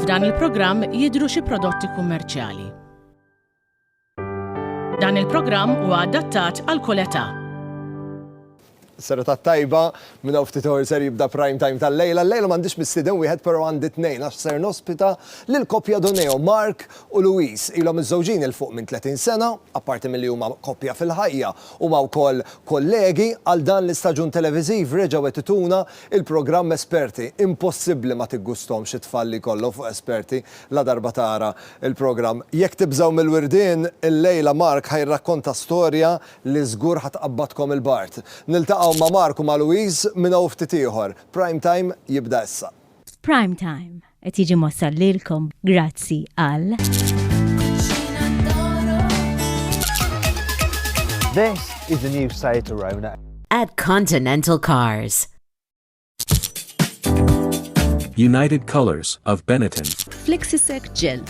F'dan il-programm jidhru xi prodotti kummerċjali. Dan il-programm huwa adattat għal kull età. Serata tajba, minn hawn ftit ħor ser jibda prime time tal-lejla. Lejla m'għandix missieden wieħed però għandi tnejn għax ser nospita lil koppja Doneo Mark u Louise ilhom miżżewġin 'il fuq minn 30 sena. Apparti milli huma koppja fil-ħajja, huma wkoll kollegi. Għal dan l-istaġun televiżiv reġgħu qed ituna l-programm Esperti. Impossibbli ma tiggusthomx it-tfal li jkollhom fuq esperti ladarba tara l-programm. Jekk tibżgħu mill-wirdien, illejla Mark ħa jirrakkonta storja li żgur ħa tqabbadkom il-bard. Niltaqgħu ma' Mark u ma' Louise minn hawn ftit ieħor. Prime Time jibda issa. F'Prime Time, Qed jiġi mossal lilkom grazzi għal. This is the new Seat Arona. At Continental Cars. United Colors of Benetton. Flexisec Gel.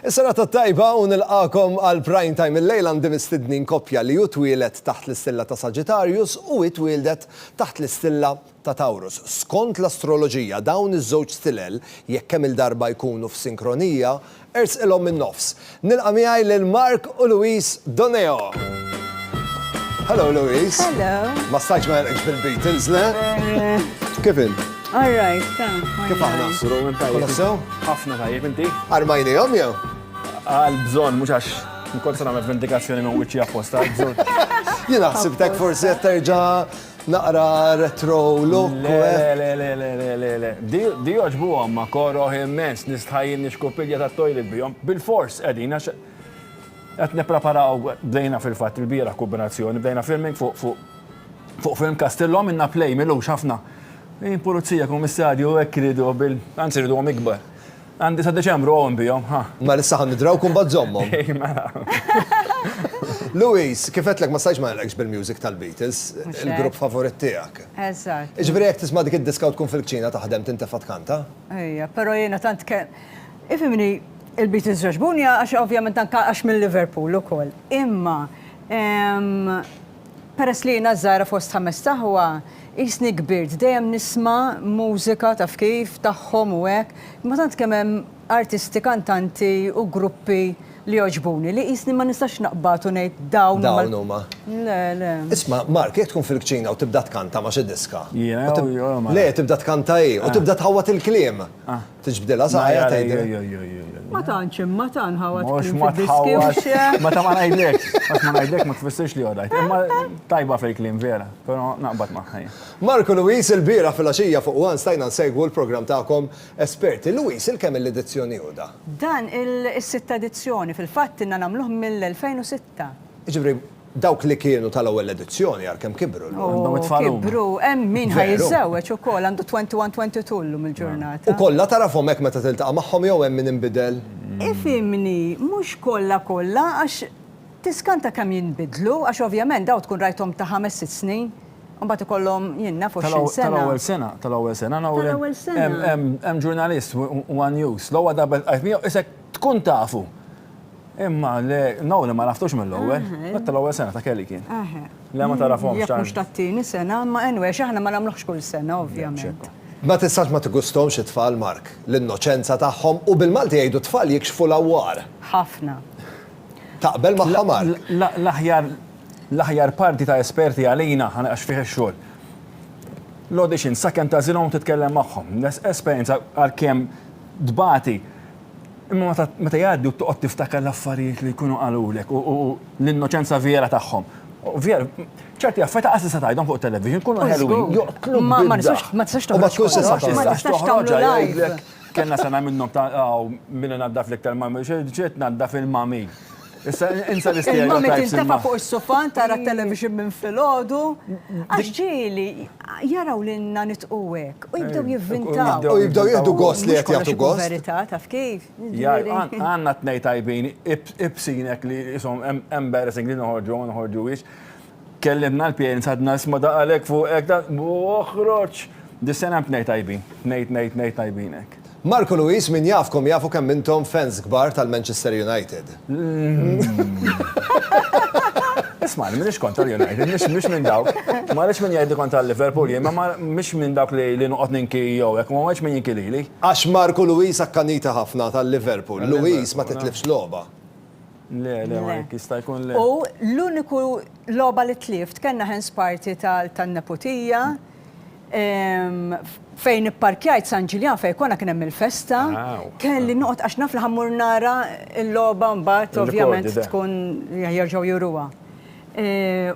Is-serata t-tajba u nilqagħkom għal Prime Time illejla għandi mistednin koppja li hu twieled taħt l-istilla ta' Sagittarius u hi twieldet taħt l-istilla ta' Taurus. Skont l-astroloġija dawn iż-żewġ stilel jekk kemm il-darba jkunu f'sinkronija ersqilhom min-nofs. Nilqa' miegħi lil Mark u Louise Doneo. Hello Louise. Hello. Ma stajtx ma nilqgħekx bil-Beatles, le? Kif int? All right, ta. Kif aħna? Kolla sew? Ħafna tajjeb inti. Armajni jom jew? Għal bżon, mux għax nkun sa nagħmel vendikazzjoni minn wiċċi apposta. Jien ħsibtek forsi qed terġa' naqra retro look. Le, eh? le, le, le, le, le, le. Di oġbu għamma koro immens nistħajin nixkupilja ta' toilet bijom. Bil-fors, edin, għax qed nepreparaw bdejna fil-fatt il-bira kombinazzjoni, bdejna filming fuq fuq Fuq film Castillo għamilna play milux ħafna. Hi pulizija, kummissarju, hekk iridu bil. Anzi rriduhom ikbar. Għandi sa Deċembru hawn bihom, ha. Mela issa ħa nidrawk u mbagħad żommhom. Hi mela. Louise, kif għedtlek ma stajtx ma nilqgħekx bil-music tal-Beatles, il-grupp favorit tiegħek. Eżatt. Jiġifieri jekk tisma' dik id-diska u tkun fil-kċina taħdem tintefa' tkanta? Ejja, però jiena tant kemm. Ifhimni, il-Beatles jogħġbuni għax ovvjament anke għax minn Liverpool ukoll. Imma. Peress li jiena ż-żgħira fost ħamest aħwa, qisni kbirt dejjem nisma' mużika taf kif, tagħhom u hekk, imma tant kemm hemm artisti, kantanti u gruppi li jogħġbuni li qisni ma nistax naqbad u ngħid dawn huma. Dawn huma. Le, le. Isma', Mark, jekk tkun fil-kċina u tibda tkanta ma' xi diska. Jiena jew huma? Le, tibda tkanta hi u tibda tħawwad il-kliem. Tiġbdilha saqajja tgħidilha. Ma tantx imma ta' nħawad kliem fid-diskju. Ma ta' ma ngħidlekx, għax ma ngħidlek ma tfissirx li għodajt. Imma tajba fil-kliem vera, però naqbad magħha jien. Mark u Louise, ilbieraħ filgħaxija fuq one stajna nsegwu l-programm tagħkom esperti. Louise, il-kemm-il edizzjoni hu dan? Dan il-sitta edizzjoni, fil-fatt ilna nagħmluh mill-2006. Jiġifieri, Dawk li kienu tal-ewwel edizzjoni ara kemm kibru llum. Għandhom it-tfal huma. Kibru, hemm min ħa jiżżewweġ ukoll, għandu 21, 22 llum il-ġurnata. U kollha tagħrafhom hekk meta tiltaqa' magħhom jew hemm min inbidel? Ifhimni, mhux kollha kollha għax tiskanta kemm jinbidlu, għax ovvjament dawn tkun rajthom ta' ħames sitt snin, imbagħad ikollhom, jien naf, għoxrin sena. Tal-ewwel sena, tal-ewwel sena, Nowrin. Tal-ewwel sena. Hemm ġurnalist, one news, l-ewwel darba ltqajt miegħu, isek tkun tafu. Imma le, no li ma raftux mill-ewwel, dak tal-ewwel sena ta' Kelly kien. Le ma tarafhomx. Jekk mhux tat-tieni sena, imma anyway, għax aħna ma nagħmluhx kull sena ovvjament. Ma tistax ma tigusthomx it-tfal Mark, l-innoċenza tagħhom u bil-Malti jgħidu t-tfal jikxfu l-għawwar. Ħafna. Taqbel magħha Mark? L-aħjar l-aħjar parti ta' esperti għalina għax fih ix-xogħol. L-audition, sakemm tagħżilhom u titkellem magħhom. Esperjenza għalkemm tbati, Imma meta jgħaddi u toqgħod tiftakar l-affarijiet li jkunu qalulek u l-innoċenza vera tagħhom, vera, ċerti affarijiet lanqas tista' tgħidhom fuq it-television, ikunu ħelwin, joqtluk bid-daħk. Ma tistax toħroġ fuq is-social. Ma tistax toħroġ għalihom. Kellna sena minnhom ta' hawn min inaddaf l-iktar mami, xi tnaddaf il-mami. Issa insa l-istereotypes. Il-mommy tintefa' fuq is-sufan tara t-television minn filgħodu. Għax ġieli jaraw lilna nitqu hekk u jibdew jivvintaw. U jibdew jieħdu gost li qed jagħtu gost. Verità taf kif? Għandna tnejn tajbin ibsin hekk li ishom embarrassing li noħorġu u ma noħorġuhiex. Kellimna l-pjens għadna nisma' daqqa lek fuq hekk da oħroġ! Dis-sena hemm tnej tajbin. Tnej tnej tnej tajbin hekk. Marco Luis min jafkom jafu kemm intom fans kbar tal-Manchester United. Ismagħni, m'iniex kontra l-United, mhix minn dawk. Ma rridx min jgħidli kontra l-Liverpool jien, imma mhix minn dawk li li noqgħod ninki jew hekk, ma rridx min jinki lili. Għax Marco Luis akkanita ħafna tal-Liverpool. Luis ma titlifx logħba. Le, le, ma jekk jista' jkun le. U l-uniku logħba li tlift kellna hands party tan-neputija fejn ipparkjajt San Ġiljan fejn konna kien hemm il-festa, kelli noqgħod għax naf li ħammur nara l-logħba mbagħad ovvjament tkun jerġgħu juruha.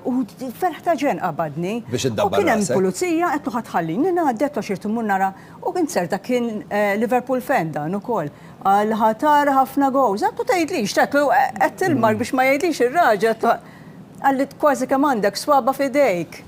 U ferħ ta' ġenn qabadni. Biex iddabbar. U kien hemm pulizija qed tħallini ngħaddi għax irid immur nara U kien serta kien eh, Liverpool fan dan ukoll. Għal ħatar ħafna gows. Għattu tgħidlix, tatlu qed tilmar mm. biex ma jgħidlix ir-raġel ta' għalli kważi kemm għandek swaba f'idejk.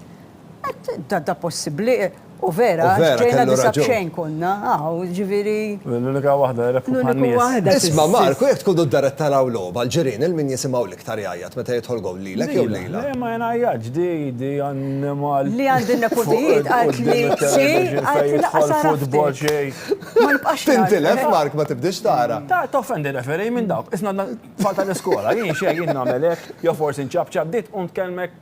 Da da possibbli u vera, ġejna disabxejn konna, għaw, ġiviri. L-unika wahda, l-unika wahda. Isma Marku, jek tkun d-daret taraw loba, l-ġirin, il-min jisimaw l Iktar jgħajjat meta jidħol gowl lilek jew lilha? Le ma jngħajjatx, di di annimal. Li għand in-nepotijiet qalt li xi qalt li naqqas għaraftek. Ma nibqax nara. Tintilef Mark ma tibdiex tara. Ta' toffendi referee minn dawk. Isna tfal tal-iskola. Jien xejn jien nagħmel hekk jew forsi nċapċap bdiet tqum tkellmek.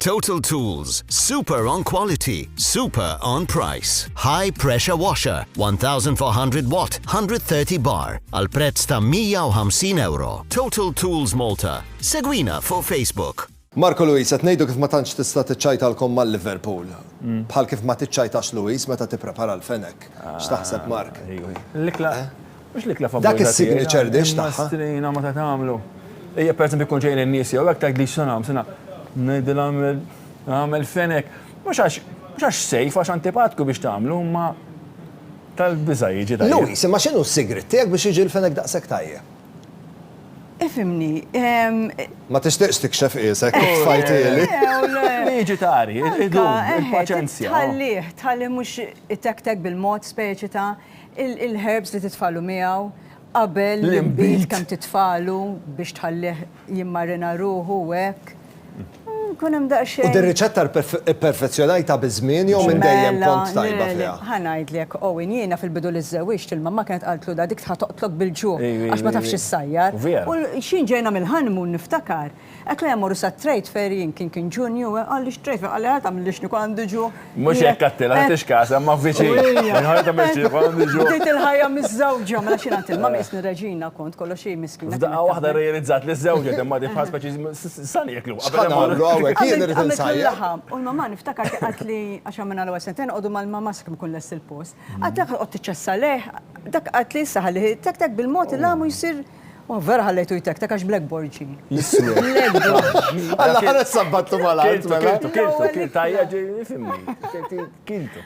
Total Tools, super on quality, super on price. High pressure washer, 1400 watt, 130 bar, għal prezz ta' 150 euro. Total Tools Malta. Segwina fuq Facebook. Marco Luis, qed ngħidu kif ma tantx tista' tiċċajtalkom mal Liverpool. Mm. Bħal kif ma tiċċajtax Luis meta tipprepara l-fenek. Ah, X'taħseb Mark? L-ikla eh? Mhux l-ikla favorita tiegħi. Dak is-signature dish tagħha. Strina ma ta' tagħmlu. Ejja per eżempju jkun ġejjin in-nies jew hekk tgħidli x'se nagħmel, se ngħidilha għamel għamel fenek. Mhux għax mhux għax sejf għax antipatku biex tagħmlu imma tal-biża' jiġi tajjeb. Louis, imma x'inhu s-sigriet tiegħek biex jiġi l-fenek daqshekk tajjeb? Ifhimni. Ma tixtieqx tikxef qiesek kif tfajtieli. Liġi ta' qari, idum, il-paċenzja. Tħallih, tħallih mhux itektek bil-mod speċi ta' Il-herbs li titfalu miegħu qabel l-inbid kemm titfalu biex tħallih jimmarina ruħu u hekk. Kun hemm daqsxejn. U din riċetta pperfezzjonajtha biż-żmien jew minn dejjem kont tajba fiha? Ħa ngħidlek, Owen, jiena fil-bidu li żżewwiġt il-mamma kienet qaltlu da dik ħa toqtlok bil-ġuħ għax ma tafx issajjar. U x'ħin ġejna mill-honeymoon niftakar Hekk lejn morru sat-trade fair jien kien kien Ġunju, qalli x-trade fair, qalli ħa tagħmlilli x'nieku għandi ġu. Mhux hekk għattilha, ħa tixkasa imma viċin. Ħa tagħmel x'nieku għandi ġu. Bdejt il-ħajja miżżewġa, mela x'jien għandtilha, ma qisni reġina kont, kollox hi miskina. F'daqqa waħda rejalizzat li żżewġet imma di bħal speċi sa nieklu. X'ħan nagħmlu hawnhekk, jien irid insajjar. U l-mamma niftakar kien qaltli, għax għamilna l-ewwel sentejn noqogħdu mal-mamma sakemm ikun lest il-post. Qaltli dak ħa toqgħod tiċċassa lejh, dak qaltli issa ħalli tek tek bil-mod il-għamu jsir. U vera ħallejtu jtektek għax Black Borgi. Għalla ħares sabbattu mal-għalt. Kiltu, kiltu, kiltu, tajja ġi fimmi. Kiltu.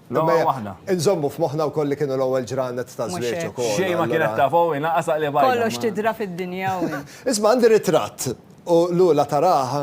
Nżommu f'moħna u kolli kienu l-ewwel ġranet ta' żwieġ u kollu. Xejn ma kienet ta' fow inaqas li bajja. Kollox tidra fid-dinja. Isma' għandi ritratt u l-ula taraha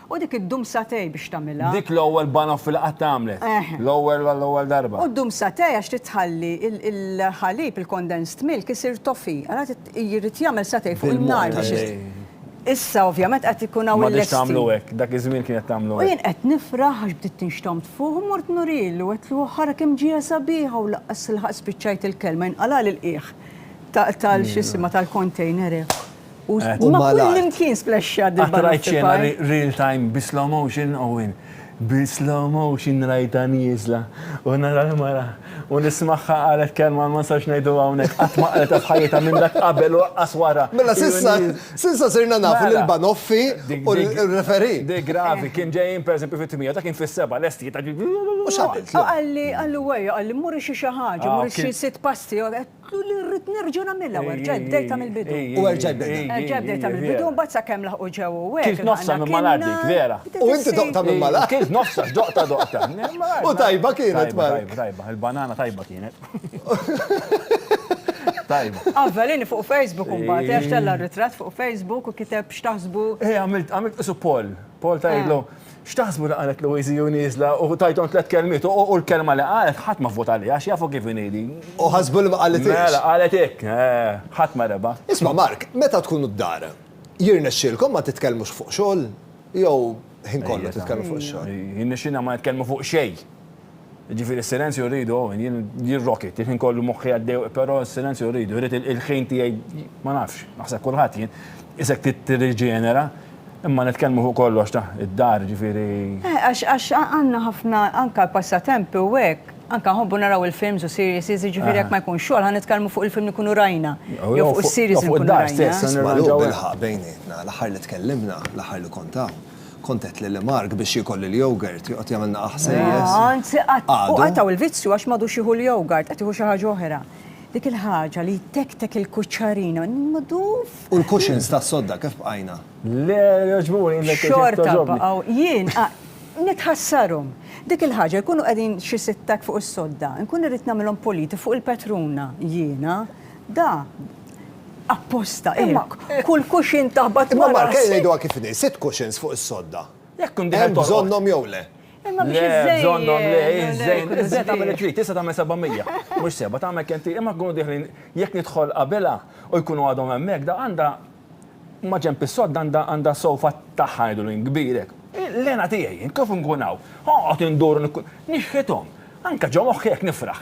U dik iddum satej biex tagħmilha. Dik l-ewwel banoffee li qatt għamlet. L-ewwel għall-ewwel darba. U ddum satej għax trid tħalli l-ħalib, il-condensed milk, isir toffee. Allura jrid jagħmel satej fuq in-nar biex isir. Issa ovvjament qed ikun hawn il-lesti. M'għadhiex tagħmlu hekk, dak iż-żmien kienet tagħmlu hekk. U jien qed nifraħ għax bdiet tinxtomm tfugħ u mort nurilu, għedtlu ara kemm ġiegħa sabiħa u laqqas ilħaqt spiċċajt il-kelma jinqalagħli l-qiegħ tal-x'isima tal-container hekk. U eh, ma kullimkien splexxa dil Għatrajt xena real time bi slow motion Owen. Bi slow motion rajta nizla. U nara l-mara. U nismaħħa għalet kelma ma sax najdu għawnek. Għat ma għalet fħajta minn dak qabel u għas wara. Mela sissa, sissa sirna nafu mela. l-banoffi u l-referi. Di gravi, kien ġejjin per esempio fit-tmija, ta' kien fis-seba, l-esti ta' U xaqalli, għalli għajja, għalli muri xie xaħġa, muri xie sit pasti, għet Qlu li rrid nerġa' nagħmilha u erġajt bdejtha mill-bidu. U erġajt bdejtha. Erġajt bdejtha mill-bidu, mbagħad sakemm laħqu ġew u hekk. Kilt nofsha minn malgħar dik, vera. U inti doqtha minn malgħar? Kilt nofsha, x'doqtha doqtha. U tajba kienet, Mark? Tajba, tajba, tajba. Il-banana tajba kienet. Tajba. Avvelini fuq Facebook imbagħad, għax tella' r-ritratt fuq Facebook u kiteb x'taħsbu. Għamilt, għamilt qisu poll. Poll ta' jgħidlu. X'taħsbu li qalet Louise Hu nieżla u tajthom tliet kelmiet u l-kelma li qalet ħadd ma vvota għaliha għax jafu kif inhi din. U ħasbu li ma qalithiex. Mela qalet hekk. Ħadd ma rebaħ. Isma' Mark, meta tkunu d-dar, jirnexxielkom ma titkellmux fuq xogħol jew ħin kollu titkellmu fuq ix-xogħol? Jirnexxilna ma nitkellmu fuq xejn. Jiġifieri s-silenzju rridu, jien jirrokit, il-ħin kollu moħħi għaddej, però s-silenzju rridu, rrid il-ħin tiegħi ma nafx, naħseb kulħadd jien, isek tirriġenera, imma nitkellmu fuq kollox ta' id-dar, jiġifieri. Eh, għax għax għandna ħafna anke passatempi u hekk, anke nħobbu naraw il-films u series, jiġifieri jekk ma jkunx xogħol ħa nitkellmu fuq il-film li jkunu rajna. Jew fuq is-series li nkunu rajna. Fuq id-dar stess. Nisma' lugħab il-ħaq bejnietna, l-aħħar li tkellimna, l-aħħar li kont hawn. Kont għedt lil Mark biex jiekol il-yogurt, joqgħod jagħmilna aħsejjes. Anzi, u qatgħu l-vizzju għax m'għadux jieħu l-yogurt, qed jieħu xi ħaġa oħra. Dik il-ħaġa li jtektek il-kuċċarina, niduf! U l-cushions tas-sodda kif bqajna? Le, jogħġbuni, inbek kif togħġobni. Xorta baqgħu, jien nitħassarhom. Dik il-ħaġa, jkunu qegħdin xi sitt hekk fuq is-sodda, inkun irrid nagħmilhom puliti fuq il-petruna, jiena, da, Apposta, imma kull kuxin taħbat ma' Mark, ejja ngħiduha kif inhi, sitt kuxins fuq is-sodda. Jekk tkun dieħel torqod. Hemm bżonnhom jew le? Imma biex iżżejjed. Le, bżonnhom le, iżżejjed, iżżejjed tagħmel li trid, tista' tagħmel 700, mhux seba' tagħmel kemm trid, imma jkunu dieħlin, jekk nidħol qabilha u jkunu għadhom hemmhekk, da għandha maġenb is-sodda għandha sofa tagħha ngħidulu jien kbir hekk. Il-hena tiegħi jien kif inkun hawn, oqgħod indur u nixħithom, anke ġo moħħi hekk nifraħ.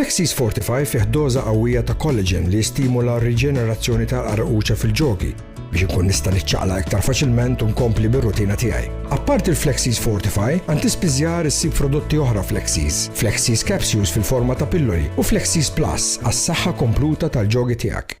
Flexis Fortify fih doża qawwija ta' collagen li jistimula r-riġenerazzjoni tal-qarquċa fil-ġogi biex inkun nista' niċċaqlaq iktar faċilment u nkompli bir-rutina tiegħi. Apparti l-Flexis Fortify, għand tispiżjar issib prodotti oħra Flexis, Flexis Capsules fil-forma ta' pilloli u Flexis Plus għas-saħħa kompluta tal-ġogi tiegħek.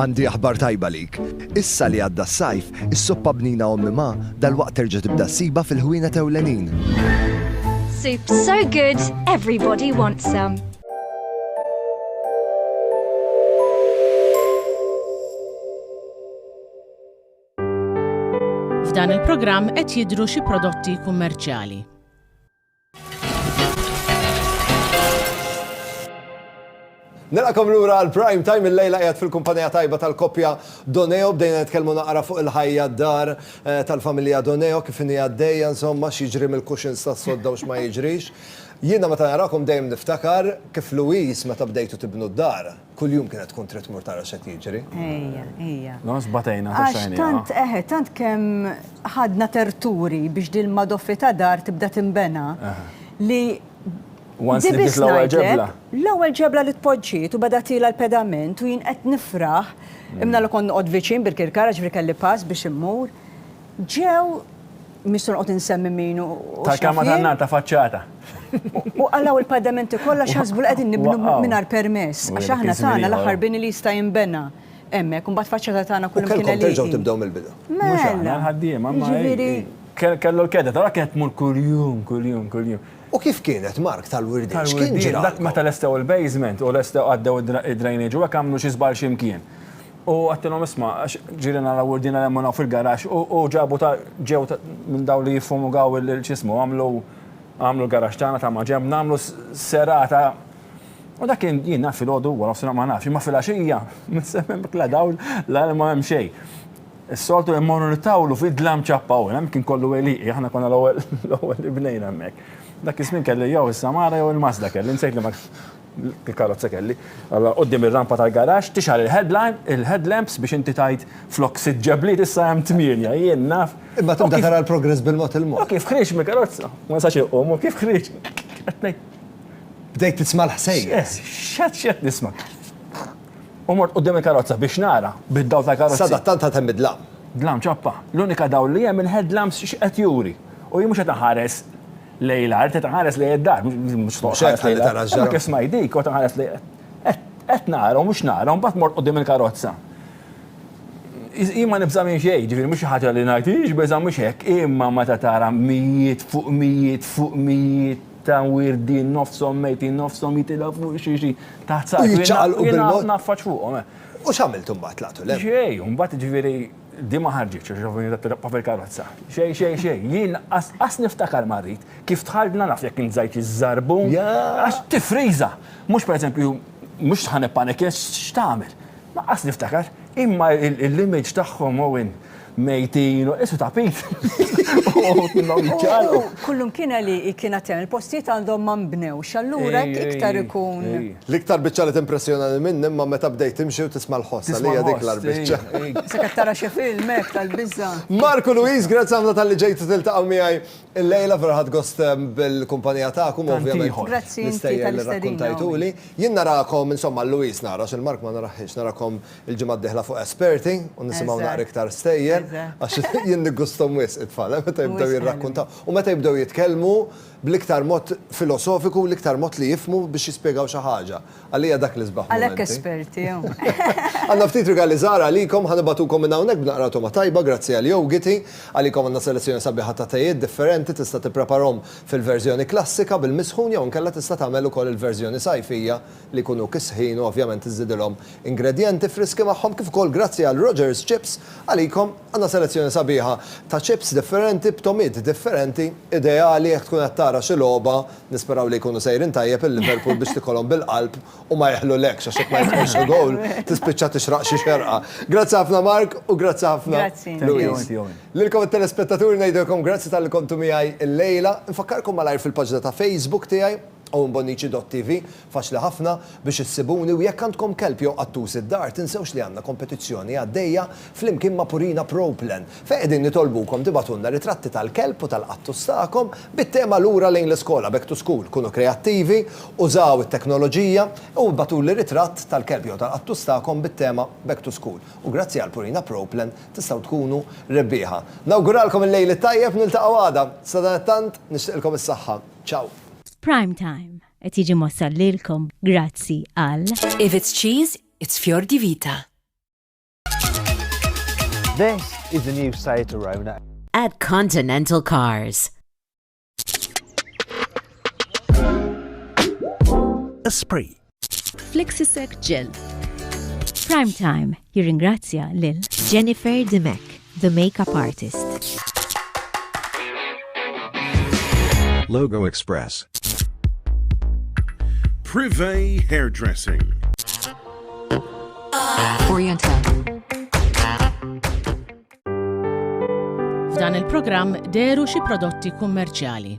Għandi aħbar tajba għalik. Issa li għadda s-sajf, is-soppa bnina ommi ma, dalwaqt terġa' tibda ssibha fil-ħwienet ewlenin. Soup so good, everybody wants some. F'dan il-programm qed jidhru xi prodotti kummerċjali. Nilqakom lura għal prime time il-lejla qiegħed fil-kumpanija tajba tal-koppja Doneo bdejna nitkellmu naqra fuq il-ħajja d-dar eh, tal-familja Doneo kif inhi għaddejja insomma x'jiġri mill-kuxins tas-sodda u x'ma jiġrix. Jiena meta narakom dejjem niftakar kif Louise meta bdejtu tibnu d-dar. Kuljum kienet tkun trid tmur tara x'qed jiġri. Ejja, ejja. No, sbatejna ta' xejn. Tant eħe, tant kemm ħadna terturi biex din madoffi ta' dar tibda tinbena li Once li bdiet l-ewwel ġebla. L-ewwel ġebla li tpoġġiet u beda tiela l-pedament u jien qed nifraħ, imna li kont noqgħod viċin bil-kirkara ġifieri kelli pass biex immur, ġew Mhix se noqgħod insemmi min u Tal-kelma tan-nar ta' faċċata. U qalgħu l-padamenti kollha x'ħasbu li qegħdin nibnu mingħajr permess, għax aħna tagħna l-aħħar bini li jista' jinbena hemmhekk, imbagħad faċċata tagħna kull imkien għalieqi. U kellkom terġgħu tibdew mill-bidu. Mhux aħna l-ħaddiema, imma ġifieri. Kellu l-kedda, tara kienet tmur kuljum, kuljum, kuljum. U kif kienet Mark tal-Wirdiet? Tal-Wirdiet, dak meta lestew il-basement u lestew għaddew id-drainage u hekk għamlu xi żball xi mkien. U għattilhom isma', għax ġieli nhar awwurdina remmunaw fil-garaxx u ġabu ta' ġew minn dawn li jiffumigaw il x'ismu għamlu għamlu l-garaxx tagħna ta' maġenb nagħmlu serata u dak kien jien naf filgħodu wara nofsinhar ma nafx imma filgħaxija minn se m'hemm la dawl la ilma m'hemm xejn. Is-soltu immorru nittawlu fid-dlam ċappa u l-hemm kien kollu għelieqi aħna konna l-ewwel l-ewwel li bnejna hemmhekk. Dak iż-żmien kelli jew is-Samara jew il-Mazda kelli nsejt liema Il-karozza kelli. Allora quddiem ir-rampa tal-garaxx tixgħal il-headlamps biex inti tgħid flok sitt ġebliet issa hemm tmienja, jien naf. Imma tibda tara l-progress bil-mod il-mod. U kif ħriġt mill-karozza, ma nistax inqum, u kif ħriġt qed ngħid. Bdejt tisma' l-ħsejjes. X'għad x'qed nisma'. U mort quddiem il-karozza biex nara bid-dawl tal-karozza. Sadattant għad hemm id-dlam. Dlam ċappa. L-unika dawl li hemm il-headlamps x'qed juri. U jien mhux qed inħares. Lej l-art, qed nħares lej id-dar, mhux toqgħod lej tara ġara. Kif smaj dik, qed nħares lej qed nara u mhux nara, mbagħad mort qudiem il-karozza. Jien ma nibża' minn xejn, ġifieri mhux xi ħaġa li ngħid hix biża' mhux hekk, imma meta tara mijiet fuq mijiet fuq mijiet ta' wirdin nofshom mejtin nofshom jitilgħu fuq xi xi taħt saqajk. Jiċċaqalqu bil-mod. Naffaċ fuqhom. U x'għamiltu mbagħad tlaqtu lejn? Xejn, mbagħad ġifieri Din ma ħarġitx għax Giovanni da Pietro bqa' fil-karozza. Xejn, xejn, xejn. Jien qas niftakar ma rrid. Kif dħalt na naf jekk int żajt iż-żarbun. Għax tifriża. Mhux pereżempju, mhux ħa nippanikja għax x'tagħmel. Ma qas niftakar. Imma l-image tagħhom Owen mejtin u qisu tapit. Uħud minnhom jiċċaqalqu. Kullum kien għalieqi kien għad hemm. Il-postijiet għandhom ma nbnewx. Allura hekk iktar ikun. L-iktar biċċa li timpressjonani minn imma meta bdejt timxi u tisma' l-ħoss, għalija hi dik l-agħar biċċa. Sa qed tara xi film hekk tal-biża'. Mark u Louise, grazzi ħafna talli ġejtu tiltaqgħu miegħi illejla, vera ħadt gost bil-kumpanija tagħkom u ovvjament l-istejjer li rrakkuntajtuli. Jien narakom, insomma lil Louise nara għax lil Mark ma narahhiex, narakom il-ġimgħa d-dieħla fuq Esperti u nisimgħu naqra iktar stejjer għax jien niggusthom wisq it-tfal, meta jibdew jirrakkuntaw u meta jibdew jitkellmu. bl-iktar mod filosofiku u l-iktar mod li jifhmu biex jispjegaw xi ħaġa. Għalija dak l-isbaħ mumenti. Għalhekk esperti hawn. Għandna ftit rigali żgħar għalikom, ħa nibagħtukom minn hawnhekk b'naqra togħma tajba grazzi għal Yogiti. Għalikom għandna selezzjoni sabiħa ta' tejiet differenti, tista' tippreparhom fil-verżjoni klassika bil-misħun jew inkella tista' tagħmel ukoll il-verżjoni sajfija li jkunu kisħin u ovvjament iżżidilhom ingredjenti friski magħhom kif ukoll grazzi għal Rogers Chips għalikom għandna selezzjoni sabiħa ta' chips differenti b'togħmiet differenti ideali jekk tkun qed tara xi logħba nisperaw li jkunu sejrin tajjeb il-Liverpool biex tikolhom bil-qalb u ma jeħlulekx għax jekk ma jidħolx il-gowl tispiċċa tixraq xi xerqa. Grazzi ħafna Mark u grazzi ħafna Louise. Lilkom it-telespettaturi ngħidilkom grazzi talli kontu miegħi llejla. Infakkarkom malajr fil-paġna ta' Facebook tiegħi Owen Bonnici DotTv, Faċli ħafna biex issibuni u jekk għandkom kelb jew qattus id-dar tinsewx li għandna kompetizzjoni għaddejja flimkien ma' Purina Pro Plan fejn qegħdin nitolbukom tibagħtulna ritratti tal-kelb u tal-qattus tagħkom bit-tema Lura lejn l-iskola, Back to School. Kunu kreattivi, użaw it-teknoloġija u ibgħatuli ritratt tal-kelb jew tal-qattus tagħkom bit-tema Back to School u grazzi għal Purina Pro Plan tistgħu tkunu rebbieħa. Nawguralkom il-lejl it-tajjeb, niltaqgħu għada. Sadanittant, nixtieqilkom is-saħħa. Ciao. Prime Time qed jiġi mwassal lilkom grazzi għal. If it's cheese, it's Fior di Vita. This is the new Seat Arona. At Continental Cars. Esprit. Flexisec Gel. Prime Time jirringrazzja lil Jennifer Dimech, the makeup artist. Logo Express. Privé Hairdressing. Oriental. F'dan il-programm deru xi prodotti kummerċjali.